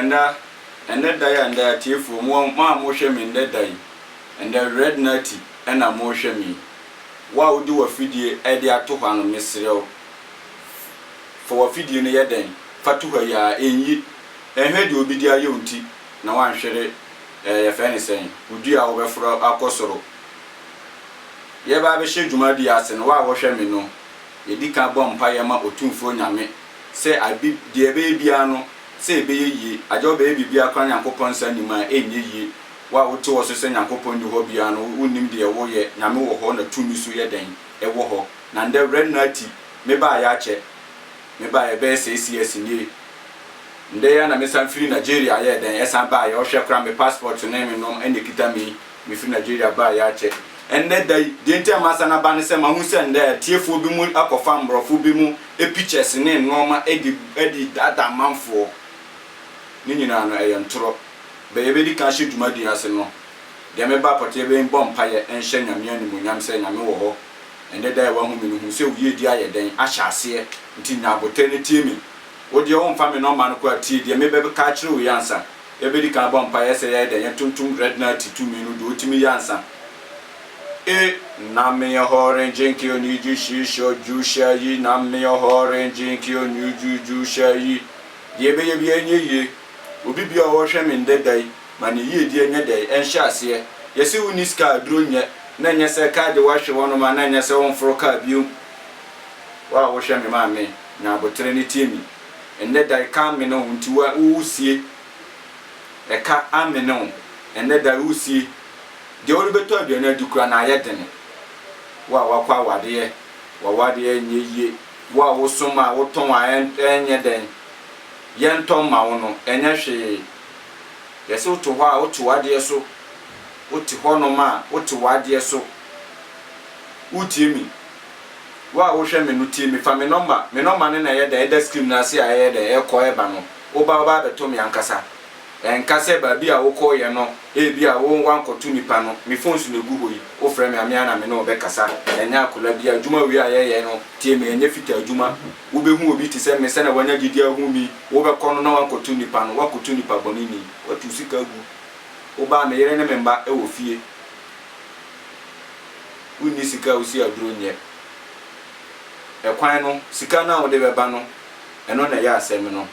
Ɛnda ɛnɛ da yi a ɛnda yi atiefoɔ mo mo a mohwɛ me ɛnɛ da yi ɛnda red nati ɛna mohwɛ me wo a wode wafidie ɛde ato hɔ ano mesrɛ wo fa wafidie no yɛ dɛn fa to hɔ yi a ɛnyi ɛnhwɛ deɛ obi de ayɛ wo nti na wanhwere ɛɛ yɛfrɛ ne sɛn wo dua a wobɛforo akɔ soro yɛreba abɛhyɛ dwumadie ase no, wo a wohwɛ me no, yɛdi kan bɔ mpaeɛ ma Otumfoɔ Nyame sɛ ade deɛ ɛbɛyɛ biara no sɛ ɛbɛyɛ yie, agya wobɛyɛ biribiara koraa Nyankopɔn nsa nnim a ɛnyɛ yie, wo a wote hɔ so sɛ Nyankopɔn nni hɔ biara no wonim deɛ woreyɛ, Nyame wɔ hɔ na tumi so yɛ dɛn ɛwɔ hɔ, na ndɛ Rev Nartey mebaeɛ akyɛ mebaeɛ bɛyɛ six years nie, ndɛ yi ara na mesan firi Nigeria yɛɛ dɛn ɛsan baeɛ, wohwɛ koraa me passport ne me nom ɛna ɛkita me yi. Mefiri Nigeria baa yɛ akyɛ ɛnnɛ da yi. Deɛ nti a masan aba ne sɛ mahu sɛ nnɛ atiefoɔ bi mo akɔfa mmorɔfo bi mo pictures ne nnoɔma de de daadaa amanfoɔ. Ne nyinaa no ɛyɛ ntorɔ. Bɛ yɛbɛdi kan ahyɛ dwumadie yi ase no, deɛ mebaa pɔtee yɛ bɛbɔ mpaeɛ nhyɛ Nyame animuonyam sɛ Nyame wɔ hɔ. Ɛnnɛ da yi a wahu me no hu sɛ wo yiedie ayɛ dɛn ahyɛ aseɛ nti nya aboterɛ na tie me. Wo deɛ womfa me nɔma no koraa tie deɛ mebɛka akyerɛ wo yi ansa. Yɛbɛdi kan abɔ mpaeɛ sɛ yɛayɛ dɛn? Yɛntontom Redna ti tumi no deɛ ɔtumi yɛ ansa. E. Nammeɛ hɔ rengye nkeo ni ju shi shɔ ju shɛ yi Nammeɛ hɔ rengye nkeo ni ju ju shɛ yi Deɛ yɛbɛyɛ biara nyɛ yie Obi biara a ɔrehwɛ me nnɛ da yi ma ne yiedie nyɛ dɛn? Ɛnhyɛ aseɛ Yɛse wonni sika a aduro nyɛ na ɛnyɛ sɛ car de woahwe hɔnom a na ɛnyɛ sɛ womforo car biom Wo a wohwɛ me maame nya aboterɛ ne tie me. Ɛnnɛ da ɛka amene wo nti wo wusie Ɛka amene wo ɛnnɛ da wusie Deɛ wode bɛtɔ aduane adi koraa na ayɛ dene Wo a woakɔ awadeɛ w'awadeɛ ɛnyɛ yie Wo a wosom a wotɔn a ɛnyɛ dɛn Yɛntɔ mma wo no ɛnyɛ hwee Yɛse wote hɔ a wote w'adeɛ so Wote hɔnom a wote w'adeɛ so Wotie me? Wo a wohwɛ me no tie me, fa me nɔmba, me nɔmba no na ɛyɛ dɛ ɛda screen no ase a ɛyɛ dɛ ɛkɔ ɛba no, woba woba abɛtɔ me ankasa. Ɛnka sɛ baabi a wokɔeɛ no ebi a wo woankɔto nipa no, me phone so na egu hɔ yi, wofrɛ me a me ara na me ne wo bɛkasa, ɛnyɛ akola bi, adwuma wei a yɛyɛ no tie me ɛnyɛ fitaa adwuma, wobɛhu obi te sɛ me sɛnea wanya gyedie ahu me yi, wobɛkɔ no na woankɔto nipa no, woakɔto nipa bɔneni, woatu wo sika agu, woba a me yere ne me mma wɔ fie. wonni sika a wosi aduro nyɛ ɛkwan no sika no a wode bɛba no ɛno na ɛyɛ asɛm no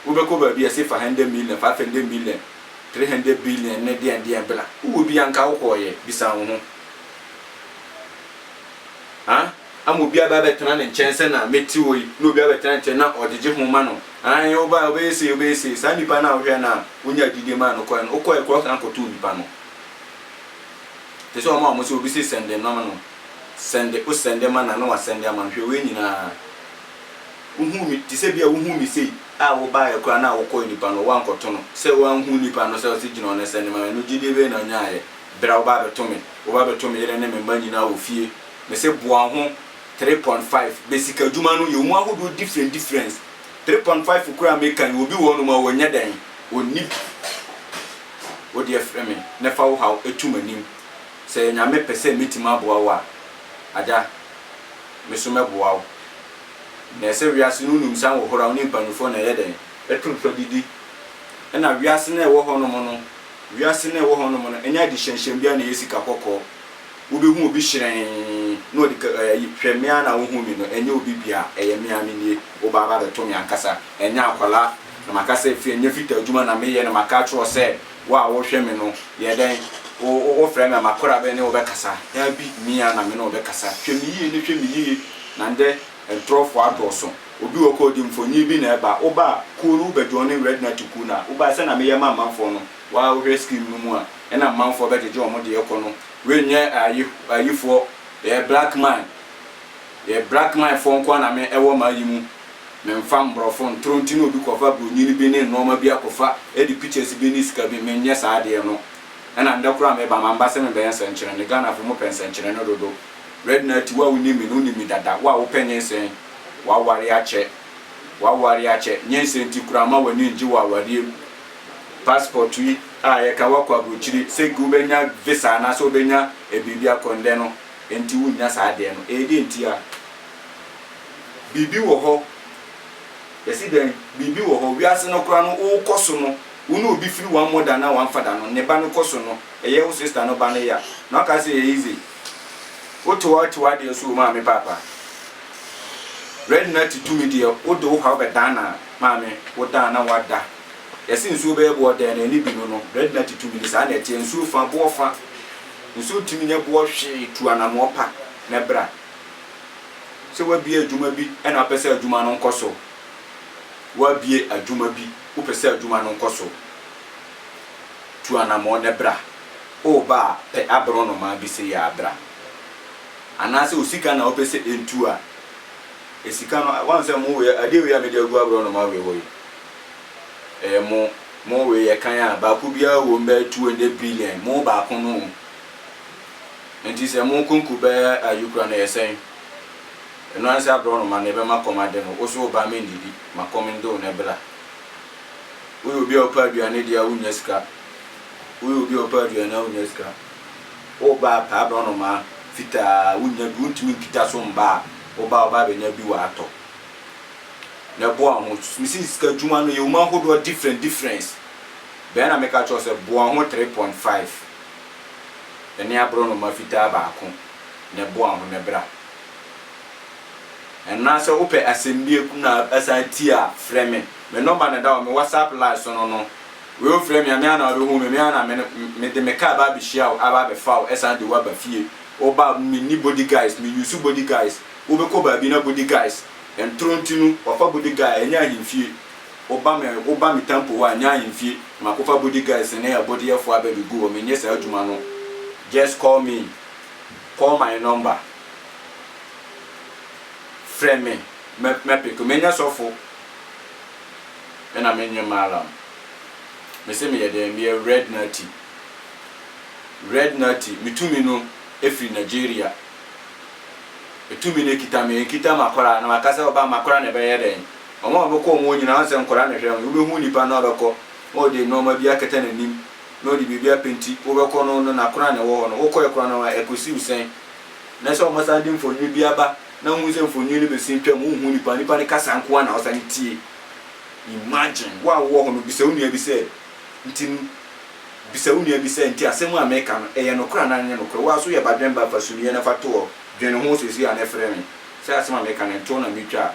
wobɛkɔ baabi a ɛse fa hundred million five hundred million three hundred billion ne deɛn deɛn bla wowɔ bi anka wokɔɔyɛ bisa wo ho ah ama obi aba abɛtena ne nkyɛn sɛ na mɛti wɔ yi na obi abɛtena nkyɛn na ɔgyegye ho ma no ae woba wobɛyɛ sei wobɛyɛ sei saa nnipa no a wohwɛ no a wonya adidie ma no kɔɛ no wokɔɛ korɔ san kɔtoo nnipa no Te sɛ wɔn a wɔse obi se sɛnde nnɔma no, sɛnde, o sɛnde ma na na wasɛnde ama no, hwɛ wei nyinaa, wohuu me, te sɛ bi a wohuu me sei a wobaeɛ koraa na wokɔɔ nipa no hɔ woankɔto no, sɛ wanhunu nipa no sɛ ɔse gyina hɔ na sɛnde ma me no, gyedie bɛn na ɔnyaaeɛ berɛ a woba abɛto me, woba abɛto me yere ne me mma nyinaa wɔ fie? Mese boa wo ho, three point five, bɛ sika dwuma no yɛ wɔn mu ahodoɔ different difference, three point five kura a meka yi obi wɔ hɔnom a ɔnyɛ dɛn ɔnni bi wo deɛ frɛ me na fa wo haw tu m'anim sɛ Nyame pɛ sɛ mɛtumi aboa wo a Agya me so mɛboa wo na ɛsɛ wiase no wonim sɛ ahohora wo ne mpaninfoɔ na ɛyɛ dɛn ɛto nsa didi ɛna wiase no a ɛwɔ hɔnom no wiase no a ɛwɔ hɔnom no ɛnyɛ adehyɛnhyɛn biara na ɛyɛ sika kɔkɔɔ Wobɛhu obi hyerɛnn na ɔde ka eh, ayi, hwɛ me ara na wohu me no, ɛnyɛ obi bia, ɛyɛ me ara menie, woba aba abɛto me ankasa, ɛnyɛ akwadaa, na maka sɛ fie, ɛnyɛ fitaa adwuma na meyɛ na maka akyerɛ wo sɛ wo a wohwɛ me no, yɛ dɛn, wo, wo, wofrɛ me a makora bɛne wo bɛkasa, daabi, me ara na me ne wo bɛkasa, hwɛ me yie ne hwɛ me yie, na ndɛ ntorɔfoɔ adɔɔso, obi wɔ hɔ a ɔde mfonie bi na ɛba, woba a, kuo no wobɛ joine Red Natty kuo no a, woba a, sɛdeɛ meyɛ ma amanfoɔ no, wo ara wohwɛ scheme no mu a, ɛna amanfoɔ bɛgyegye wɔn deɛ kɔ no, Wei nyɛ ayi ayifoɔ yɛyɛ black man yɛ black man foɔ nkoa na me ɛwɔ m'ayi mu me nfa mborɔfo ntoro nti na obi kɔfa bronyini bi ne nnoɔma bi akɔfa ɛde pictures bi ne sika bi me nyɛ saa adeɛ no ɛna ndɛ koraa me ba mamma sɛ me bɛyɛ nsɛnkyerɛnne Ghana foɔ mo pɛ nsɛnkyerɛnne dodo Redna ati wo a wo nim me no wo nim me dada wo a wo pɛ nyensɛn waware akyɛ waware akyɛ nyensɛn nti koraa ma w'ani ngye wɔ awareɛ mu. passport yi a yɛka woakɔ abrokyire sɛ nka wobɛnya visa anaasɛ wobɛnya biribi akɔ ndɛ no nti wonnya saa adeɛ no ɛyɛ deɛ ntia? Biribi wɔ hɔ yɛse dɛn biribi wɔ hɔ wiase no koraa no wokɔ so no wo ne obi firi wammɔ da anaa wamfa da no ne ba no kɔ so no ɛyɛ wo sister no ba no ya na waka sɛ ɛyɛ easy wo te wɔ te wadeɛ so o maame paapa Red Natty tumi deɛ wode wo haw bɛdan na maame wo dan na wada Yɛse nsuo bɛyɛ boɔ dɛn na ɛne bi no no red na tutu mini saa na ɛteɛ nsuo fa boɔ fa nsuo ntumi nyɛ boɔ hwee tu anamoɔ pa na bra sɛ wabie adwuma bi na wopɛ sɛ adwuma no nkɔ so wabie adwuma bi wopɛ sɛ adwuma no nkɔ so tu anamoɔ na bra o ba a pɛ aboro nomaa bi se yɛ abra anaasɛ osika na wopɛ sɛ ɛntu a esika no wahu sɛ mo wei adeɛ wei a mede agu aboro nomaa wei hɔ yi ɛyɛ mo mo wei yɛ kan a baako biara wɔ mu bɛyɛ two hundred billion mo baako no nti sɛ mo konko bɛyɛ ayukura no yɛ sɛn ɛno ansa aborɔnoma no ɛbɛma kɔm ade no woso wo ba me ndidi ma kɔm ndo no ɛbra woyɛ obi a wopɛ aduane deɛ a wonya sika woyɛ obi a wopɛ aduane a wonya sika wo ba pɛ aborɔnoma fitaa wonya bi wontumi nkita so mba a wo ba wo ba bɛnya bi wɔ atɔ na boa ho me si sika dwuma no yɛ mu ahodoɔ different different bɛɛ na meka kyerɛ sɛ boa ho 3.5 ɛne aborɔnoma fitaa baako na boa ho na bra ɛna sɛ wopɛ asɛm bi na asan ti a frɛ me me nɔmba na da wɔ me whatsapp live so no no wei ofrɛ me a me ana wobɛhu me me ana me de me kaa ba abɛhyia wo aba abɛfa wo ɛsan de wo aba fie woba me ni body guys me use body guys Wobɛkɔ baabi na body guys ntoro nti no wafa body guy a ɛnyɛ ahemfie woba me woba me tampo hɔ a ɛnyɛ ahemfie na makɔfa body guys ne abodeyɛfoɔ abɛbɛgu hɔ menyɛ saa adwuma no just call me call my number frɛ me mɛ mɛpeke menyɛ sɔfo ɛna menyɛ malam mese meyɛ dɛn meyɛ red nati red nati metumi no ɛfiri Nigeria Tumi no kita me, ɛnkita m'akwadaa na maka sɛ ɔba m'akwadaa na ɛbɛyɛ dɛn? Wɔn a wɔbɛkɔ wɔn nyinaa, wɔn sɛ nkwadaa na ɛhwɛ wɔn. Wobɛhu nipa no a ɔbɛkɔ na ɔde nnoɔma bi akata n'anim na ɔde biribi apenti. Wobɛkɔ no no n'akwadaa na ɛwɔ hɔ no, wokɔɛ koraa no ɛkɔsi wo sɛn? Na sɛ wɔsan de mfonini bi aba na wohu sɛ mfonini no bɛsi ntwam, wonhu nipa no, nipa no kasa nko ara na wosane tie. Imagine, wo a wowɔ hɔ no bisa wo nua bi sɛ, Ntsi bisa wo nua bi sɛ, 'Ntsi asɛm a mereka no, eyɛ nokwar anaa nnyɛ nokwar? Woara so yɛ badwenba fa sunyɛ na fa to hɔ, dwen ho sesei a na efrɛ me sɛ asɛm a mereka no ntoo na mitwa a.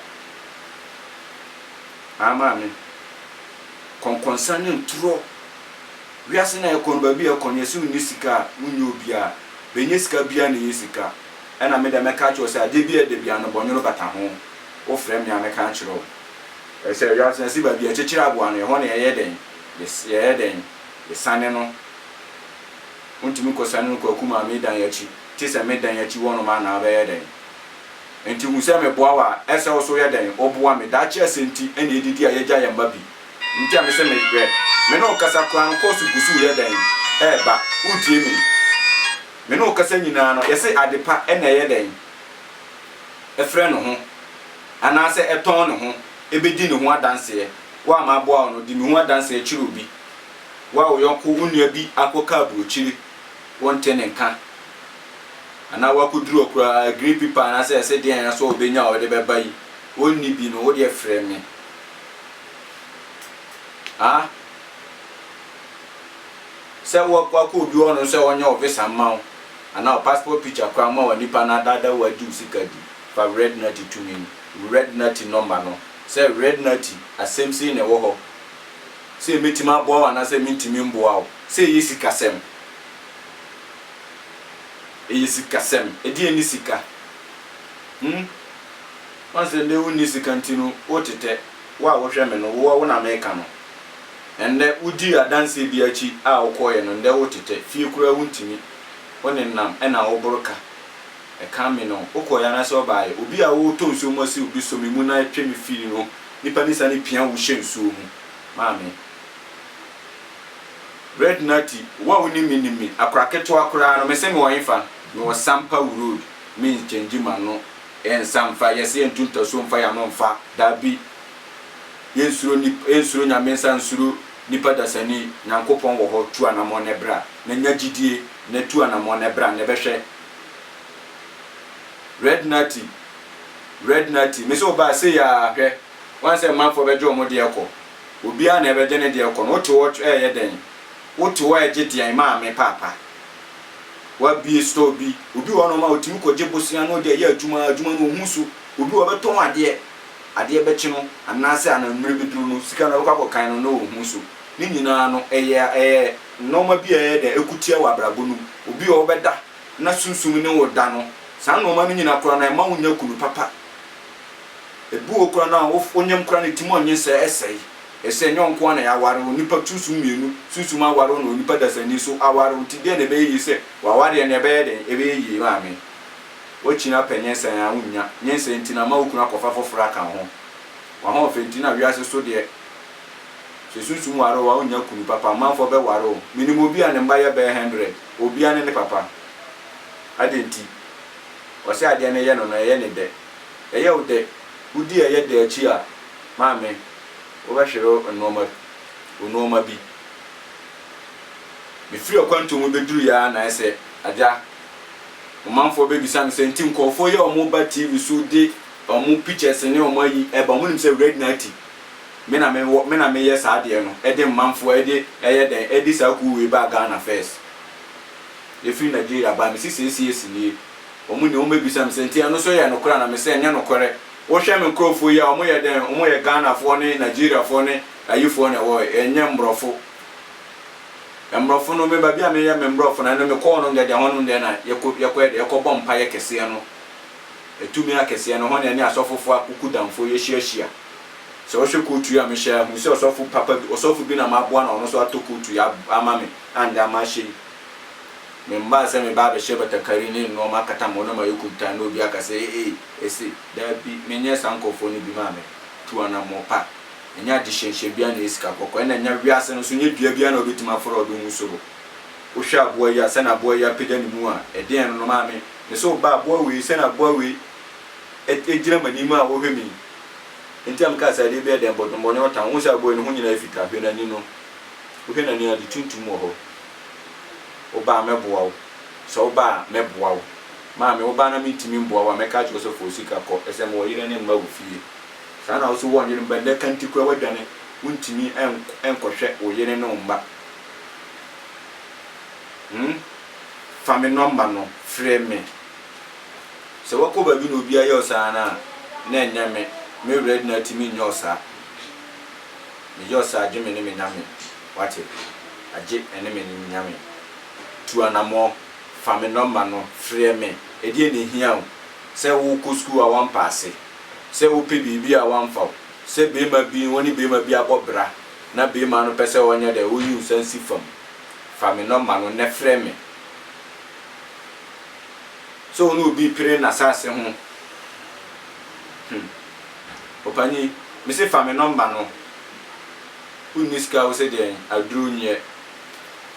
Aa Maame, kɔnkɔnsa nye ntorɔ. Wiase no a yɛkɔ no, baabi a yɛkɔ no, yɛse wonnyi sika a, wonnyɛ obiara. Benya sika biara na eyɛ sika. Nna me dɛ mɛka akyerɛ wo sɛ adze biara da biara no bɔnwor bata ho. Wofrɛ me a mɛka akyerɛ wo. Sɛ wiase no si baabi a ɛkyekyere aboa no, ɛhɔ na yɛyɛ dɛn? Yɛyɛ dɛn? Yɛsane no. Wontumi nkɔsane no Kwaku Maame dan akyi, gye sɛ me dan akyi hɔnom a na abɛyɛ dɛn? Enti hu sɛ meboa wo a, ɛsɛ wo nso woyɛ dɛn? Woboa me. Daakye asɛm nti na yɛdidi a yɛagya yɛn mma bi. Nti a mese me hwɛ me ne wo kasa koraa no kɔ so gu so reyɛ dɛn? Reba. Woretie me? Me ne wo kasa nyinaa no, yɛse adepa na ɛyɛ dɛn? Ɛfrɛ ne ho. anaasɛ ɛtɔn ne ho bɛdi ne ho adanseɛ, wo a maboa wo no, di me ho adanseɛ kyerɛ obi. Wo a wo yɔnko, wo nua bi akɔka aburokyire, wonte ne nka, anaa wakɔduru hɔ koraa, green paper anaasɛ ɛse deɛn nso a ɔbɛnya a ɔde bɛba yi, ɔnni bi no, wo deɛ frɛ me. A. Sɛ wakɔ obi hɔ no sɛ ɔnyɛ wo visa mma wo, anaa wo passport picture koraa mma wo a, nipa no adaadaa wo agye wo sika di. Fa Red Nutty tumi no. Red Nutty nɔmba no. Sɛ Red Nutty, asɛm sei na ɛwɔ hɔ, sɛ mɛtumi aboa wo anaasɛ mentumi mboa wo. Sɛ ɛyɛ sikasɛm, ɛyɛ sikasɛm. Ɛdeɛn ne sika? Hmm? Woahu sɛ nnɛ wonni sika nti no wotetɛ. Wo a wohwɛ me no, wo na meka no. Ɛnnɛ wodii adanseɛ bi akyi a wokɔeɛ no, nnɛ wotetɛ. Fie koraa wontumi. Wo nenam na woboro ka. Ɛkã me no, wokɔ yɛ anaasɛ ɔbaa yɛ? Obi a wotɔ nsuo mu asiw bi sɔ me mu na twe me firi no nipa ne sane pia wo hyɛ nsuo mu maa me. Red Natty, Wo a wonim me nim me, akora ketewa koraa no, mese mewɔ hefa? Mewɔ Sampa Wu Road, Mins Kyɛngyi M'ano yɛ nsa mfa, yɛse yɛnto ntasuo mfa y'ano mfa, daabi, yɛnsuro nip, yɛnsuro Nyame nsa nsuro nipa dasani, Nyankopɔn wɔ hɔ, tu anamɔn na bra, na nya gyidie, na tu anamɔn na bra, na bɛhwɛ, Red Natty Red Natty mese wo baa sei aa hwɛ Woan sɛ mmanfoɔ bɛgye wɔn deɛ kɔ Obiara na ɛbɛgye ne deɛ kɔ no Wote hɔ ɛɛyɛ dɛn Wote hɔ ɛɛgye deɛn Maame paapa W'abie store bi Obi wɔ hɔ nom a ɔtumi kɔgye bosea na ɔde ayɛ adwuma Adwuma no ɔhu so Obi wɔ hɔ ɔbɛtɔn adeɛ Adeɛ bɛkye no Anaasɛ ananmmerɛ bɛduru no Sika no ɔbɛkɔ akɔkan no na ɔhu so. Ne nyinaa no, ɛyɛ a ɛyɛ nnoɔma bi a ɛyɛ dɛ, ɛko tia wɔ abrabɔ no mu. Obi wɔ hɔ wobɛda na sunsum ne wo da no, saa nnoɔma no nyina koraa no ɛmma wo nnya kunu papa. Ɛbi wɔ hɔ koraa no a wo wonyem koraa no ɛtumi ɔnye sɛ ɛsɛe. Ɛsɛ ɛnyɛ wo nko ara na yɛaware wo, nnipa sunsum mmienu sunsum aware wo na onipa dasani nso aware wo. Nti deɛn na ɛbɛyɛ yie sɛ w'awareɛ no ɛbɛyɛ dɛn? Ɛbɛyɛ yie maame. Woakyi no apɛ nyensan a wonnya, nyensan nti no ama wo kunu akɔfa foforɔ aka wo ho. W'ahoɔfɛ nti na wiase so deɛ. Sɛ sunsum ware wo a, wonnya kunu papa. Amanfoɔ bɛware wo. Menim obi a ne mma yɛ bɛyɛ hundred. Obiara ne ne papa. Adɛn nti? Ɔsɛ adeɛ no yɛ no no, ɛyɛ no dɛ. Ɛyɛ wo dɛ? Wodi ɛyɛ dɛ akyi a, maame, wobɛhwere nnoɔma, wo nnoɔma bi. Mefiri ɔkwantuo mu bɛduruiɛ ara na ayɛ sɛ, Agya, wo manfoɔ bɛbisa me sɛ, nti nkurɔfoɔ yi a wɔba TV so de wɔn pictures ne wɔn ayi ba, wɔnnim sɛ Red Natty Me na me wɔ me na me yɛ saa adeɛ no de mmanfoɔ ɛde ɛyɛ dɛn ɛde saa kuo wei baa Ghana first ɛfiri Nigeria baa me se sɛ ɛsi ɛsi nie wɔn nie wɔn bɛbisa me sɛ nti ɛno nso yɛ nokorɛ anaa me se ɛnyɛ nokorɛ wo hwɛ me nkorɔfoɔ yi a wɔn yɛ dɛn wɔn yɛ Ghanafoɔ ne Nigeriafoɔ ne ayifoɔ na ɛwɔ ɛnyɛ mmorɔfo mmorɔfo no me baabi a me yɛ me mmorɔfo na ɛno me kɔ hɔnom deɛ deɛ hɔnom deɛ na yɛkɔ yɛkɔ yɛ deɛ yɛkɔ bɔ mpaeɛ kɛseɛ no ɛtumi akɛseɛ no hɔ na ɛne asɔfofoɔ akuku damfoɔ yɛhyia hyia Sɛ wohwɛ kootu yi a mehyɛ a, hu sɛ ɔsɔfo papa bi, ɔsɔfo bi na maboa no a ɔno nso atɔ kootu yi ama me a nnɛ ama ahyɛ yi. Memmaa sɛ meba abɛhyɛ batakari ne nnoɔma akata me ho na mayɛ kuntann na obi aka sɛ, Ee, ese. Dabi, menyɛ saa nkurɔfoɔ no bi. Maame, tu anammɔn pa. Ɛnyɛ adehyɛnhyɛn biara na ɛyɛ sika kɔkɔɔ. Ɛnna ɛnyɛ wiase no nso, ɛnyɛ dua biara na wobɛtumi aforo a wode wo ho suro. Wohwɛ aboa yi a, sɛdeɛ aboa yi apagya ne mu a, ɛdeɛn no no, maame? Mese wo ba, aboa wei, sɛdeɛ aboa wei gyina m'anim a ɔrehwɛ me yi, ntam ka sɛ, Adeɛ biara dɛn, bɔdom, bɔne, ɔtan, wohu sɛ aboa yi, ne ho nyinaa yɛ fitaa? Hwɛ n'ani no. Wohwɛ n'ani a, ade tuntum wɔ hɔ. Woba a, mɛboa wo. Sɛ woba a, mɛboa wo. Maame, woba na mentumi mmoa wo a, mɛka akyerɛ wo sɛ, 'Fa wo sika kɔ. Ɛsɛ mewɔ yere ne mma wɔ fie. Saa na wo nso woannyere mma nnɛ kanti koraa woadwane, wontumi nkɔhwɛ wo yere ne wo mma. Hum! Fa me nɔmba no frɛ me. Sɛ wɔkɔ baabi na obiara yɛ ɔsaa no a, na ɛnyɛ me. Me werɛ de no ara ti menyɛ ɔsaa. Meyɛ ɔsaa gye me ne me Nyame. Woate? Agye ɛne me ne me Nyame. Tu anamɔ. Fa me nɔmba no frɛ me. Ɛdeɛn na ɛhia wo? Sɛ worekɔ sukuu a woampaase? Sɛ wopɛ biribi a woamfa wo? Sɛ beema bi, wo ne beema bi abɔ bra na beema no pɛ sɛ ɔnyɛ dɛ, ɔyi wo san si fam? Fa me nɔmba no nnɛ frɛ me. sɛ wo ne obi pere n'asase ho hmm Opanin me se fa me nɔmba no Wo nni sika wo se deɛn aduro nyɛ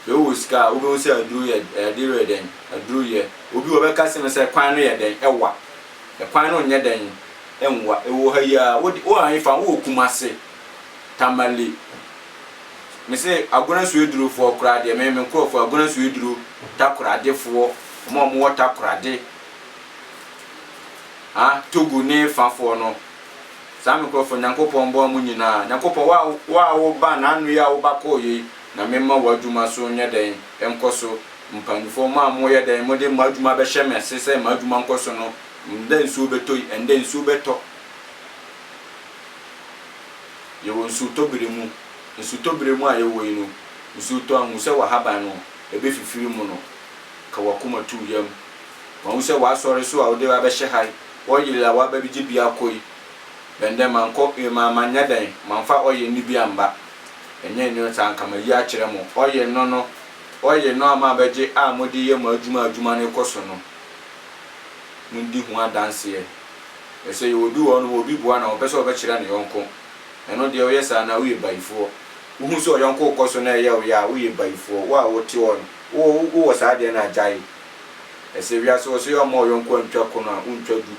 Bɛ wo wɔ sika a wo bɛhu sɛ aduro yɛ adeɛ wei yɛ dɛn aduro yɛ Obi wɔ bɛka se me sɛ kwan no yɛ dɛn ɛwa Ɛkwan no nyɛ dɛn ɛnwa Ɛwɔ ha yi ara wo de wo anyi fa ho wo wɔ Kumasi Tamale, Me se Agona Suadurofoɔ koraa deɛ me, me nkorɔfoɔ, Agona Suaduro Takoradefoɔ, wɔn a wɔwɔ Takorade, ha, Togo ne fafoɔ no, saa me nkorɔfoɔ, Nyankopɔn mboa mo nyinaa. Nyankopɔn, wo a, wo a woba, na ano yi a woba kɔɔeɛ yi, Nyame mma w'adwuma so nyɛ dɛn, nkɔ so. Mpaninfoɔ, mo a moyɛ dɛn, mode mo adwuma bɛhyɛ me ase sɛ m'adwuma nkɔ so no, ndɛ nsuo bɛtɔ yi, ɛndɛ nsuo bɛtɔ. Yɛwɔ nsutɔbere mu. Nsutɔbere mu a yɛwɔ yi no, nsuo tɔ a, hu sɛ w'ahaban no, ɛbɛfifiri mu no, ka w'akoma to wo yam. Ma hu sɛ w'asɔre so a wode abɛhyɛ ha yi, oil a woaba abɛgye bi akɔ yi, bɛn dɛ mankɔ, eh, ma, manyɛ dɛn, mamfa oil no bi amba. Ɛnyɛ ɛnyɛ saa, anka mayi akyerɛ mo. Oil no no, oil no a moabɛgye a mode yɛ mo adwuma a adwuma no rekɔ so no, modi ho adanseɛ. Ɛfiri sɛ yɛwɔ bi wɔ hɔnom a obi boa na ɔmpɛ sɛ ɔbɛkyerɛ ne yɔnko. Ɛno deɛ woyɛ saa no a, woyɛ bayifoɔ. Wohu sɛ ɔyɔnko rekɔ so na ɛyɛ wo ya a, woyɛ bayifoɔ. Wo a wote hɔ no, wo wowɔ saa adeɛ no a, gyae. Ɛsɛ wiase hɔ sɛ woamma ɔyɔnko antwa ko no a, wontwa du.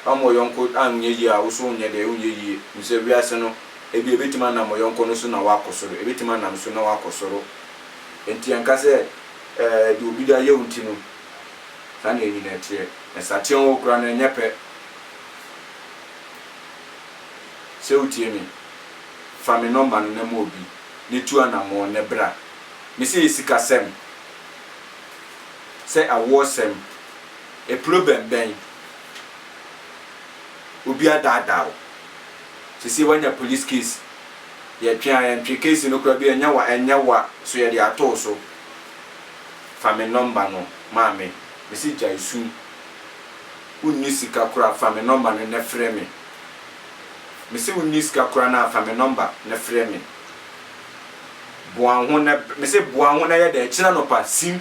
Woamma ɔyɔnko anyɛ yie a, wo nso wonyɛ dɛn? Wonyɛ yie. Hu sɛ wiase no, ebia ɛbɛtumi anam ɔyɔnko no so na woakɔ soro. Ɛbɛtumi anam so na woakɔ soro. Enti ɛnka sɛ, ɛɛ, deɛ obi de ayɛ wo nti no. Saa na enyina ɛteɛ. Nsateaa ɔwɔ kura no ɛnyɛ pɛ. Sɛ wotie me, fa me nɔmba no na ma obi, na tu anamɔn na bra. Me se yɛ sikasɛm, sɛ awoɔsɛm, ɛplobɛm bɛn? Obi adaadaa wo. Sesei wanya polis case. Yɛtwe a yɛntwe case no kura bi a ɛnyɛ wa ɛnyɛ wa so yɛde ato wo so. Fa me nɔmba no ma me. Mese gyae su Wonni sika koraa fa me nɔmba no na frɛ me Mese wonni sika koraa na fa me nɔmba na frɛ me Boa wo ho na Mese boa wo ho na yɛ dɛ Ɛkyena anɔpa sim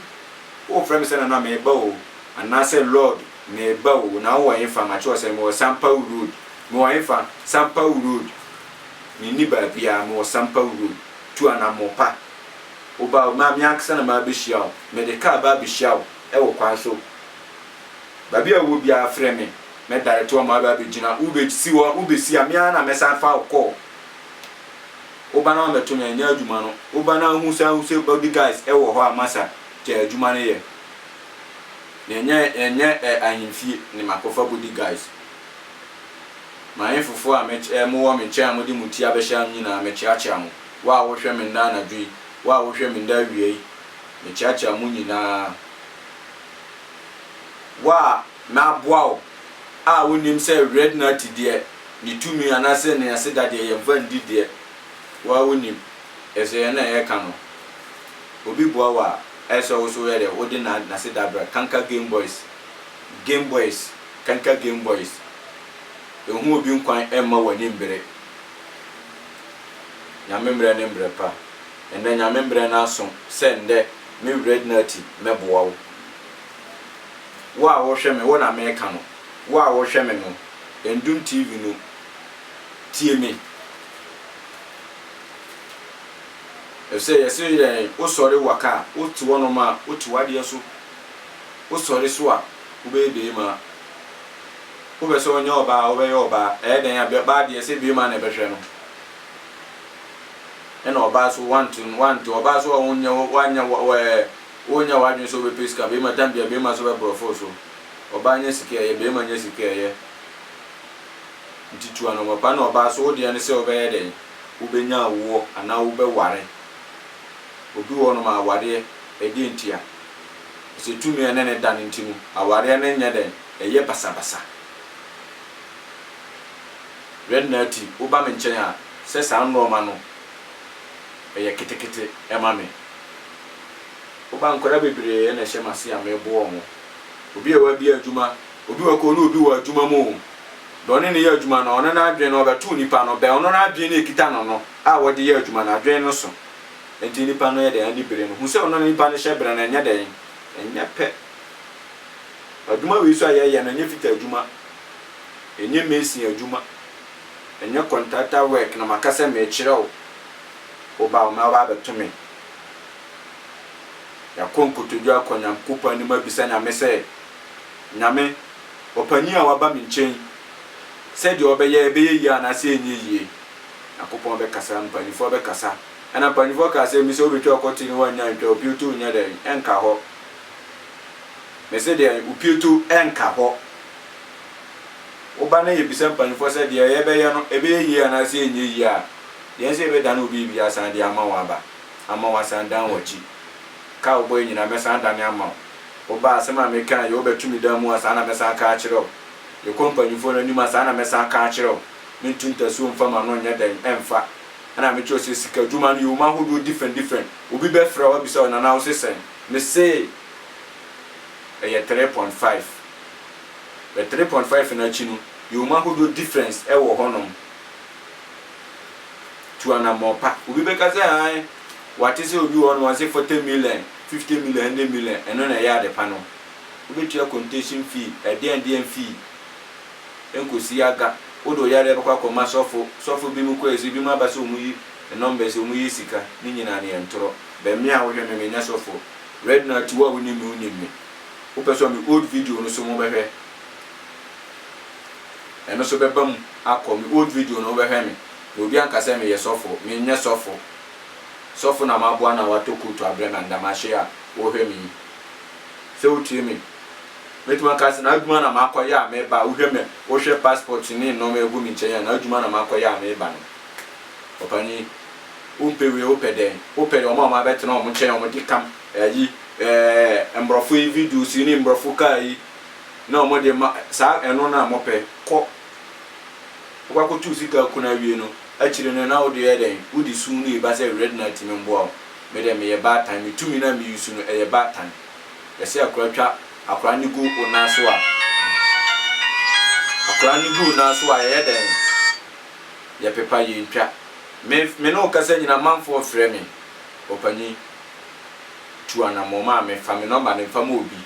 Wofrɛ me sɛ Nana mereba o Anaasɛ Lord mereba o Na wowɔ hefa Makye wo sɛ mewɔ Sampawu road Mewɔ hefa Sampawu road Menni baabiaa Mewɔ Sampawu road Tu anamɔ pa Wo ba o, ma me ankasa na mabehyia wo, mede kaa ba abehyia wo wɔ kwan so. Baabi a wowɔ biara frɛ me, mɛdaete wɔn ma wɔaba abegyina. Wobesi hɔ, wobesi a, me ara na mɛsan afa wo kɔɔ wo ba na wamɛto me anyɛ adwuma no. Wo ba no ahu sɛ ahu sɛ body guys wɔ hɔ a, masa gyae adwuma no yɛ. Yɛnyɛ yɛnyɛ eh, ahemfie ne makɔfa body guys. M'ahemfofo a mɛky eh, mowɔ me nkyɛn a mode mo ti abɛhyɛ ano nyinaa, mɛkyeakyea mo. Wo a wohwɛ me nna anadwo yi, wo a wohwɛ me nna awia yi, mekyeakyea mo nyinaa. Wo a m'aboa wo a wonnim sɛ Rednati deɛ ne tumi anaasɛ ne aseda deɛ yɛmfa nndi deɛ, wo ara wonim, ɛfisɛ yɛn na yɛka no. Obi boa wo a, ayɛ sɛ wo nso woyɛ dɛ, wode na n'aseda brɛ, kanka Game Boys, Game Boys, kanka Game Boys, ɛhu obi nkwan mma w'ani mbere. Nyame mbrɛ ne mbrɛ pa Ndɛ Nyame mbrɛ n'aso sɛ ndɛ Me wrɛd n'ati mɛboa wo Wo a wohwɛ me wo na meka no Wo a wohwɛ me no Ndum TV no tsie me Efisɛ yɛse yɛn wo sɔre wa ka a Wo tse hɔ nom a wo tse w'adeɛ so Wo sɔre so a wo bɛyɛ beema Wopɛ sɛ ɔnyɛ ɔbaa a, wobɛyɛ ɔbaa. Ɛyɛ dɛn a, bɛbaa deɛ sɛ bɛɛma na ɛbɛhwɛ no. Ɛna ɔbaa so wante no, wante. Ɔbaa so a wonyɛ, wanyɛ wɔ, wɔ ɛɛ, wonyɛ w'adwene sɛ wobɛpɛ sika. Bɛɛma tam bia bɛɛma so bɛbrɔfo wo so. Ɔbaa nyɛ sika ɛyɛ, bɛɛma nyɛ sika ɛyɛ. Nti tu anɔmɔpa na ɔbaa so wo deɛ ne sɛ wobɛyɛ dɛn, wobɛnya awoɔ anaa wobɛware. Obi wɔ hɔ nom a awareɛ, ɛdeɛ nti a. Ɛsɛ tumi a ɛne no da no nti no, awareɛ no nyɛ dɛn. Ɛyɛ basabasa. Red Natty, woba me nkyɛn a, sɛ saa nnoɔma no, ɛyɛ ketekete ma me. Woba nkwadaa bebree na ɛhyɛ m'ase a, meboa wɔn. Obi a wabie adwuma, obi wɔ kɔ ne obi wɔ adwuma mu o, deɛ ɔne no yɛ adwuma no, ɔno n'adwene no, ɔbɛto nipa no bɛn, ɔno n'adwene no ɛkita no no a ɔde yɛ adwuma no, adwene no so. Ɛnti nipa no yɛ dɛn? Ani bere no. Hu sɛ ɔno ne nipa no hyɛ berɛ no, ɛnyɛ dɛn? Ɛnyɛ pɛ. Adwuma wei so a yɛyɛ no ɛnyɛ fitter adwuma, ɛnyɛ mason adwuma, ɛnyɛ contractor work na maka sɛ merekyerɛ wo, woba wo mɛ aba abɛto me. Yɛakɔ nkotodwe akɔ Nyankopɔn anim abisa Nyame sɛ, Nyame, ɔpanin a waba me nkyɛn yi, sɛdeɛ ɔbɛyɛ ɛbɛyɛ yie anaasɛ ɛnyɛ yie? Nyankopɔn bɛkasa, mpaninfoɔ bɛkasa. Ɛna mpaninfoɔ kaa sɛ, Mise wobɛtwa ɔkɔte ne woannya antwa, opioto nyɛ dɛn, ɛnka hɔ. Mese deɛ opieto nka hɔ. Woba na yɛbisa mpanyimfoɔ sɛ deɛ yɛbɛyɛ no ɛbɛyɛ yie anaasɛ ɛnyɛ yie a, yɛn sɛ yɛbɛdane obi biribi asan de ama wo aba ama woasan dan w'akyi. Ka a wobɔeɛ nyinaa mɛsan adane ama wo. Woba a asɛm a mekaeɛ wobɛto me dan mu a saa na mɛsan aka akyerɛ wo. Yɛkɔ mpanyimfoɔ no anim a saa na mɛsan aka akyerɛ wo. Mentu ntasuo mfa m'ano nyɛ dɛn mfa. Ɛna mekyerɛ wo sɛ sika dwuma no yɛ wom ahodoɔ different different. Obi bɛfrɛ wo abisa wo nana wose sɛn? Me se ɛyɛ three point five but three point five no akyi no yɛwɔ mu ahodoɔ difference ɛwɔ hɔ nom tu anammɔn pa obi bɛka sɛ han wate sɛ obi wɔ hɔ nom ɔse forty million fifty million hundred million ɛno na ɛyɛ adepa no wobɛtua contation fee ɛdeɛn deɛn fee ɛnkɔsi aga wode ɔyare ɛbɛkɔ akɔma sɔfo sɔfo bi mu kɔ ɛsi bi mu aba sɛ ɔmu yi numbers ɔmu yɛ sika ne nyinaa no yɛ ntorɔ Bɛn me a wohwɛ me me nyɛ sɔfo Reginald ti wo a wonim me wonim me wopɛ sɔ me old video no so mo bɛhwɛ ɛno so bɛba mu akɔ me old video no wobɛhwɛ me na obi anka sɛ me yɛ sɔfo me nyɛ sɔfo sɔfo na maboa no a watɔ kootu abrɛ me andamahye a wohwɛ me yi sɛ wotie me mɛtumi aka sɛ n'adwuma na makɔ yɛ a meba a wohwɛ me wohwɛ passport ne nnɔma ɛgu me nkyɛn a n'adwuma na makɔ yɛ a meba no ɔpanyin Wompɛ wei wopɛ dɛn? Wopɛ wɔn a wɔabɛtena wɔn nkyɛn wɔn de kam ayi ɛɛ mborɔfo yi videos yi ne mborɔfo car yi na wɔn de ma saa ɛno na mopɛ kɔ wokɔ akɔtu sika kun awie no akyire no na wode yɛ dɛn wode sum no eba sɛ red night me mboa wo me deɛ meyɛ baatan me tumi na me use no ɛyɛ baatan yɛse akora twa akora no gu wo nan so a akora no gu wo nan so a yɛyɛ dɛn. yɛpepa yɛntwa. Me me ne wo kasa nyina amanfoɔ frɛ me ɔpanyin tu anamɔ ma me fa me nɔmba no mfa ma obi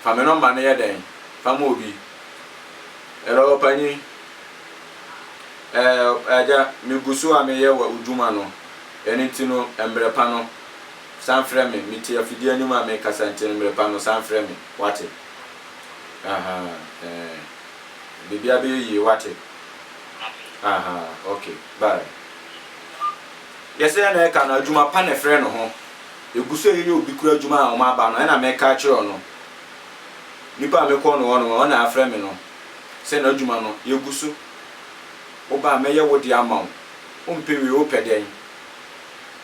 fa me nɔmba no yɛ dɛn fa ma obi ɛlɔ ɔpanyin ɛɛ agya me gu so a meyɛ wɔ odwuma no ɛno nti no mbrɛ pa no san frɛ me me te afidie anim a mekasa nti no mbrɛ pa no san frɛ me wate ahaa ɛɛ. Biribi a bɛyɛ yie wate aha ok bye yɛsɛ yɛ na ɛka no adwuma pa na ɛfrɛ no ho ɛgu so yɛyɛ obi kura adwuma a ɔma aba no ɛna mɛka akyerɛ ɔno nipa a mekɔ no hɔ no ɔna afrɛ me no sɛ na adwuma no yɛgu so woba a mɛyɛ wo de ama wo wompɛ wie wopɛ dɛn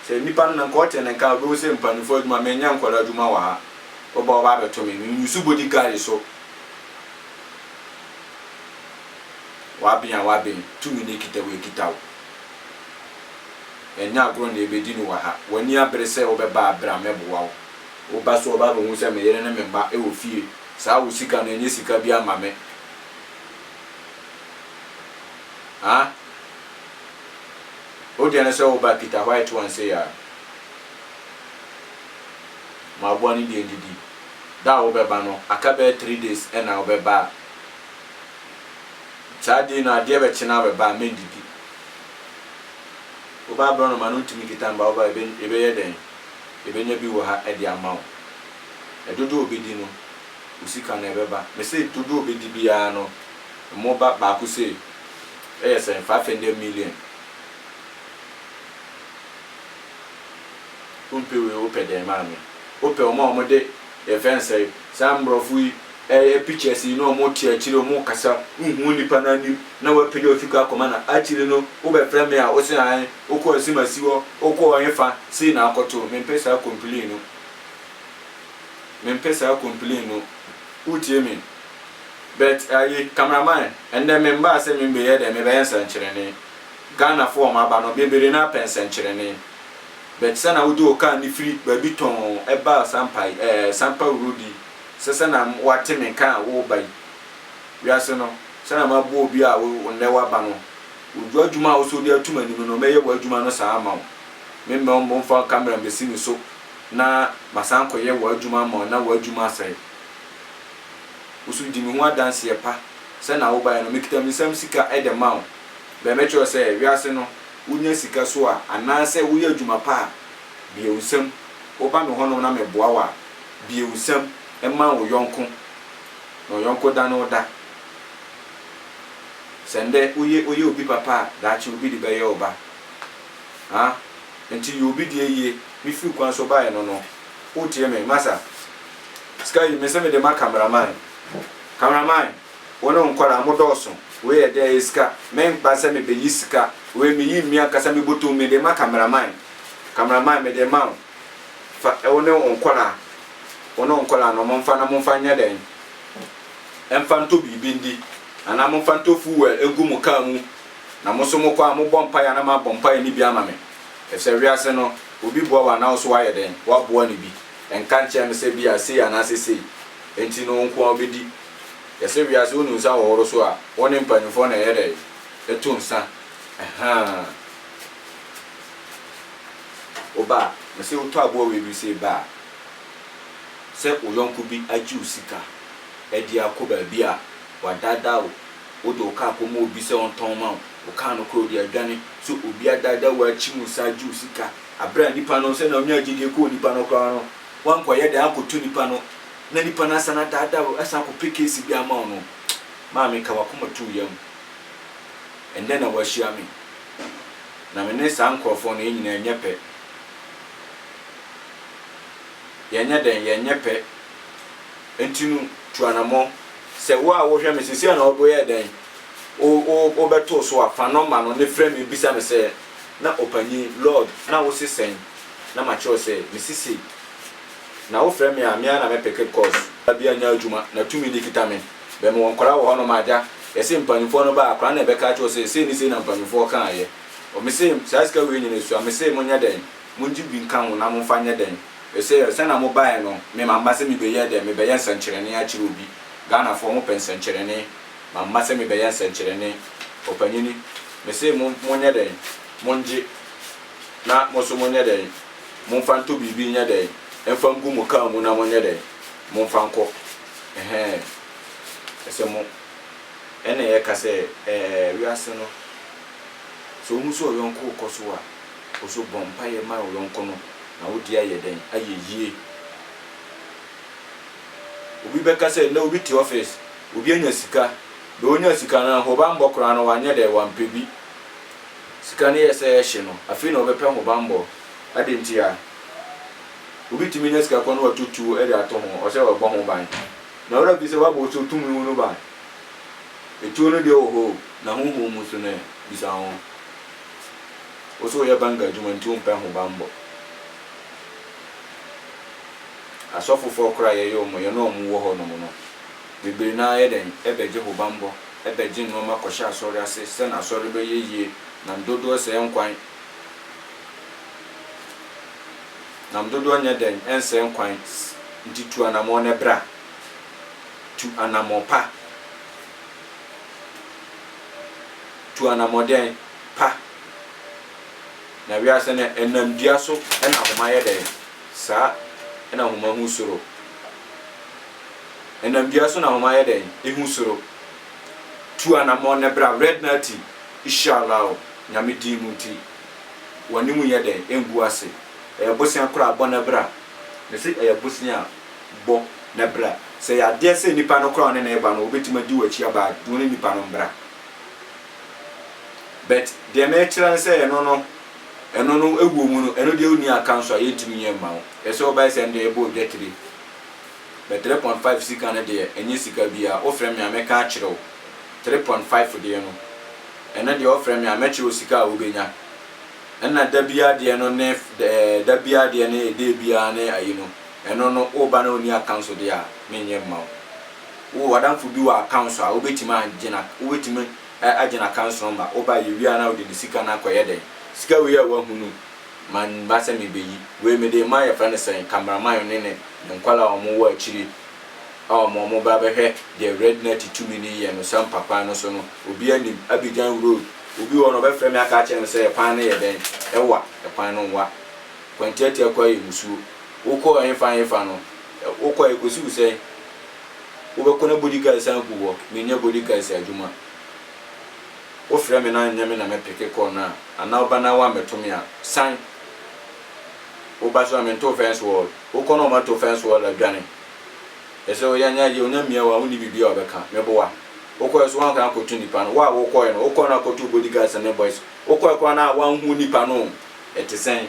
sɛ nipa no na nka ɔte ne nka wobɛhu sɛ mpanimfoɔ adwuma menyɛ nkɔla adwuma wɔ ha woba ɔba abɛto me menyusu bodyguard so W'aben a w'aben, tumi ne kita wo akita wo. Ɛnyɛ agorɔ na yɛbɛdi no wɔ ha. W'ani abere sɛ wobɛba a, bra mɛboa wo. Woba so a wobaa bɛhu sɛ me yere ne me mma wɔ fie. Saa wo sika no, ɛnyɛ sika bi ama me. Haa? Wo deɛ no sɛ woba a, kita white one sei ara. Mmaboa no deɛ ndidi. Da a wobɛba no aka bɛyɛ three days na wobɛba a saa day no adeɛ bɛkye na wobɛba a mɛndidi. Woba aborɔnoma no ntumi nkita mba woba a yɛbɛyɛ dɛn? Yɛbɛnya bi wɔ ha de ama wo. Dodoɔ a ɔbɛdi no wo sika no ɛbɛba. Mese dodoɔ a ɔbɛdi biara no mo ba baako sei ɛyɛ sɛn? Five hundred million. Wompɛ wei wopɛ dɛn maame. Wopɛ wɔn a wɔn de yɛfrɛ no sɛn saa mborɔfo yi ɛyɛ pictures yi na wɔn te akyire wɔn rekasa wonhu nnipa no anim na wapagya ofi kɔ akɔma no akyire no wobɛfrɛ me a wose hann wokɔɔ nsimasi hɔ wokɔɔ hefa sei na akɔto mempɛ saa complain no mempɛ saa complain no wotie me but ayi camera man ɛndɛ me mmaa sɛ me mbɛyɛ dɛn mebɛyɛ nsɛnkyerɛnne Ghana fo wɔn aba no bebree no ara pɛ nsɛnkyerɛnne. But sɛ na wode wo car no firi baabi tɔnn ɛba Asampa yi ɛɛ Sampa road yi sɛ sɛ na wate me nka a woreba yi wiase no sɛ na maboa obi a wo nnɛ waba no odwo adwuma a wosɛ wode ato m'anim no mɛyɛ w'adwuma no saa ama wo me mmɛ wo mmɔ mfa camera mmɛsi me so na masan akɔyɛ w'adwuma ama wo na w'adwuma asɛe wo so di me ho adanseɛ pa sɛ na wobaeɛ no mekita me nsam sika ɛde ma wo bɛɛ mɛkyerɛ sɛ wiase no Wonya sika so a, anaasɛ woyɛ adwuma pa a, biawsɛm, woba me hɔnom na meboa wo a, biawsɛm, ma wo yɔnko, na ɔyɔnko da ne wo da. Sɛ nnɛ woyɛ woyɛ obi papa a, daakye obi de bɛyɛ wo ba. Ha? Enti yɛ obi deɛ yie. Mefiri kwan so baeɛ no no, wotie me, masa? Sika yi, mese mede ma cameraman. Cameraman! Wo no nkwadaa mo dɔɔso wei yɛ dɛ ɛyɛ sika me nkpa sɛ me bɛ yi sika wei me yi mmi ankasa me botom me de ma camera man camera man me de ma wo fa wo ne wo nkwadaa wo ne wo nkwadaa no mo nfa na mo nfa nyɛ dɛn ɛnfa ntɔ biribi ndi anaa mo nfa ntɔ fuel ɛngu mo car mu na mo so mo kɔ a mo bɔ mpaeɛ na mo abɔ mpaeɛ ne bi ama me ɛfisɛ wiase no obi boa wo anaa wo so wayɛ dɛn waboa ne bi ɛnka nkyɛn me sɛ bi a sei anaa sɛ sei ɛnti no wo nko a wobɛdi Yɛsɛ wiase wonu nsa hohoro so a wɔne mpanyimfoɔ na ɛyɛ dɛn? Ɛto nsa. Ɛhaa. Wo ba a, mese wo tɔ aboa wei bi se ba a, sɛ wo yɔnko bi agye wo sika adi akɔ baabi a wadaadaa wo, wode wo kaa kɔma obi sɛ ɔntɔn ma wo, wo kaa no koraa ɔde adwane, sɛ obi adaadaa wo akyim wo saa agye wo sika, aberɛ a nipa no sɛnea ɔnyaa gyidie kɔɔ nipa no koraa no Wankɔyɛ dɛn akɔto nipa no na nipa no asan adaadaa wo asan akɔpɛ case bi ama wo no maame ka wakoma too yam ɛndɛ na wahyia me na me ne saa nkorɔfoɔ no yɛn nyinaa ɛnyɛ pɛ yɛnyɛ dɛn yɛnyɛ pɛ nti no tu anamɔ. Sɛ wo a wohwɛ me sesei na wo yɛ dɛn wo wo wo bɛtoo so a fa nɔmba no ne frɛ me bisa me sɛ na ɔpanyin lord na wo se sɛn na makyerɛw sɛ me sisi na wofrɛ me a me ara na mɛ peke bcos babia nya adwuma na tumi no kita me bɛ mewɔ nkwadaa wɔ hɔ nom agya yɛse mpaninfoɔ no ba a akwadaa na ɛbɛka akyerɛ wo sɛ sei ne sei na mpaninfoɔ kaayɛ ɔme se saa sika wei nyina sua me se monyɛ dɛn mongye bi nka ho na momfa nyɛ dɛn ɛse sɛna mo baɛ no me mamma sɛ mebɛ yɛ dɛn mebɛ yɛ nsɛnkyerɛnee akyerɛ obi Ghanafoɔ mo pɛ nsɛnkyerɛnee mamma sɛ mebɛ yɛ nsɛnkyerɛnee ɔpanyini me se mo monyɛ dɛn mongye na mo nso monyɛ dɛn? Momfa ntɔ biribi nyɛ dɛn? Mfa ngu mo kaa mu na monyɛ dɛn? Momfa nkɔ. Ɛhɛɛ. Ɛsɛ mo. Ɛnna yɛka sɛ, Ɛɛ, wiase no, sɛ ohu sɛ ɔyɔnko rekɔ so a, ɔsɛ ɔbɔ mpaeɛ ma ɔyɔnko no, na wo deɛ ayɛ dɛn? Ayɛ yie. Obi bɛka sɛ, Nnɛ obi te ɔfis, obi anya sika. Deɛ ɔnyaa sika no, ahobammɔ koraa no, wanyɛ dɛn? Wampɛ bi. Sika no yɛ sɛ ɛhye no, afei na ɔbɛpɛ hobammɔ. Adɛn ntia? Obi tumi nya sika kɔ na watɔ tuo de ato ho, ɔsɛ wabɔ ho ban. Na wura bisa, W'aba wo so tumi wo no ban? Etuo no deɛ wɔ hɔ o, na honhom mu nso no ɛ? Bisa wo ho. Wo nso woyɛ banga adwuma nti wompɛ hobammɔ. Asɔfofoɔ koraa a yɛyɛ wɔn, yɛne wɔn wɔ hɔnom no, bebree no ara yɛ dɛn? Bɛgye hobammɔ. bɛgye nnoɔma kɔhyɛ asɔre ase sɛ na asɔre bɛyɛ yie nam dodoɔ sɛɛ nkwan nam dodoɔ nyɛ dɛn ɛnsɛɛ nkwan nti tu anamɔn nɛ bra tu anamɔn pa tu anamɔn dɛn pa na wiase nɛ ɛnam dua so ɛna ahoma yɛ dɛn saa ɛna ahoma ho soro. Ɛnam dua so na wɔayɛ dɛn ehu soro? Tu anamɔn na bra Red Nati Ishallah o Nyame din mu nti W'ani mu nyɛ dɛn engu ase Ɛyɛ bosea koro a bɔ na bra Mese ɛyɛ bosea a bɔ na bra Sɛ ɛyɛ adeɛ sɛ nipa no koro a ɔne no reba no ɔbɛtumi adi w'akyi aba a Dwene nipa no mbra But deɛ merekyerɛ no sɛ ɛno no Ɛno no ɛwɔ mu no ɛno deɛ wonni akanso a yɛntumi nyɛ mma wo Ɛsɛ ɔbaa sɛ ɛnde ɛbɔ odwatire But three point five sika no deɛ ɛnyɛ sika biaa wofrɛ me a mɛka akyerɛ wo three point five deɛ no ɛno deɛ wofrɛ me a mɛkyerɛ wo sika a wobɛnya ɛna da biaa deɛ no ne ɛɛ da biaa deɛ ne day biaa ne ayi no ɛno no woba na wonni accounts deɛ a menyɛ mma wo wowɔ w'adamfo bi wɔ accounts a wobɛtumi agye na wobɛtumi agye na accounts number woba yɛwie a na wode ne sika no akɔyɛ dɛn sika wei a wahu no ma ne mma sɛ mebeyi. Wei mede rema yɛfrɛ no sɛn, cameraman ne ne ne nkwadaa a wɔwɔ akyire a wɔn wɔn ba bɛhwɛ deɛ Red Natty tumi no yɛ no sampa kwan no so no, obi anim, Abidjan road, obi wɔ no ɔbɛfrɛ me aka akyerɛ me sɛ ɛkwan no yɛ dɛn, ɛwa, ɛkwan no nwa, kwantiatia koraa yɛ musuo, wokɔ ɛhefa ɛhefa no, wokɔ a ɛkɔsi wo sɛn, wobɛkɔ na body guard san gu hɔ, menyɛ body guard adwuma. Wo frɛ me na nyɛ me na mɛ peke call no a anaa wo ba na wa mɛto me a san wo ba so a me nto fence wall wo kɔ na ɔma to fence wall a dwane ɛsɛ o yɛ nya yɛ onya mia wa wo ni bibi a ɔbɛ ka me boa wo kɔɛ so wa nka akɔ to nipa no wa wo kɔɛ no wo kɔ na akɔ to body guards and boys wo kɔɛ kɔ na wa nhu nipa no ɛte sɛn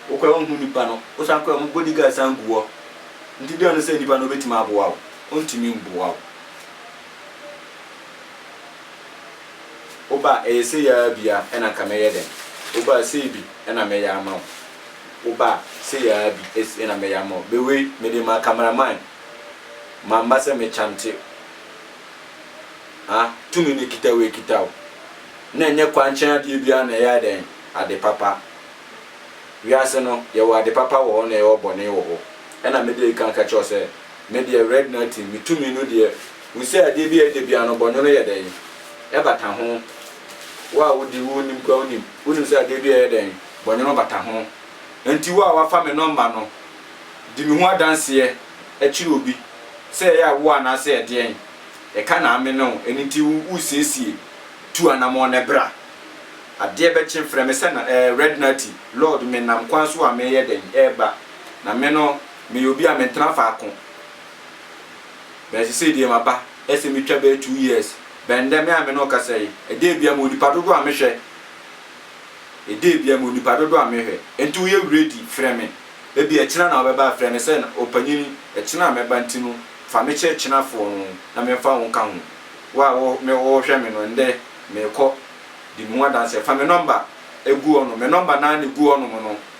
wo kɔɛ wo nhu nipa no wo san kɔɛ mo body guards san gu wɔ nti deɛ no sɛ nipa no bɛ timi aboa wo ɔntimi mboa wo Wo ba ɛyɛ sei aa bi a ɛna nka mɛyɛ dɛn Wo ba sei bi ɛna mɛyɛ ama wo Wo ba sei aa bi es ɛna mɛyɛ ama wo Me wei mede ma camera man Mamma sɛ me chante ah Tumi no kita wo ɛkita wo Na ɛnyɛ kwankyɛn adeɛ biara na ɛyɛ dɛn Ade papa Wiase no yɛwɔ ade papa wɔ hɔ na yɛwɔ bɔne wɔ hɔ Ɛna mede ɛka ka kyerɛ wo sɛ Me deɛ red nothing me tumi no deɛ hu sɛ adeɛ bi a ɛda biara no bɔnwono yɛ dɛn ɛbata ho wo a wodi wo nim koraa wonim wonim sɛ adeɛ bi a ɛyɛ dɛn bɔnwono bata ho ɛnti wo a wafa me nɔmba no di me ho adanseɛ ɛkyerɛ obi sɛ ɛyɛ a wo anaasɛ ɛdeɛn ɛka na ame ne wo ɛno nti wo wosiesie tu anamɔn na bra adeɛ bɛkye frɛ me sɛ na ɛɛ red nothing lord me nam kwan so a me yɛ dɛn ɛɛba na me no Meyɛ obi a mentena faako bɛn sesei deɛ maba sɛ metwa bɛyɛ two years bɛn ndɛ me a me ne wo kasa yi ɛdɛɛ bia mewɔ nipa dodoɔ a mehwɛ ɛdɛɛ bia mewɔ nipa dodoɔ a mehwɛ nti woyɛ ready frɛ me ɛbia kyena na wobɛba a frɛ me sɛ ɔpanyin ɛkyena a mɛba nti no fa me kyɛ kyena foɔ no na me mfa wo nka ho wo a wo me wo hwɛ me no ndɛ mekɔ di me ho adanseɛ fa me number ɛgu hɔ nom me number naa na ɛgu hɔ nom no.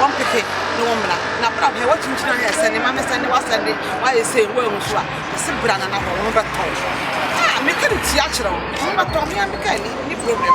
wɔn pɛpɛ ne wɔn mmara na bra hwɛ wɔtumi gyina hɛ sɛ ne ma me sɛ ne wasɛ de wayɛ sɛ wo ahu so a ɛse bra na na hɔ wɔn bɛtɔ a meka ne tia kyerɛ wɔn wɔn bɛtɔ hea meka ni ni problem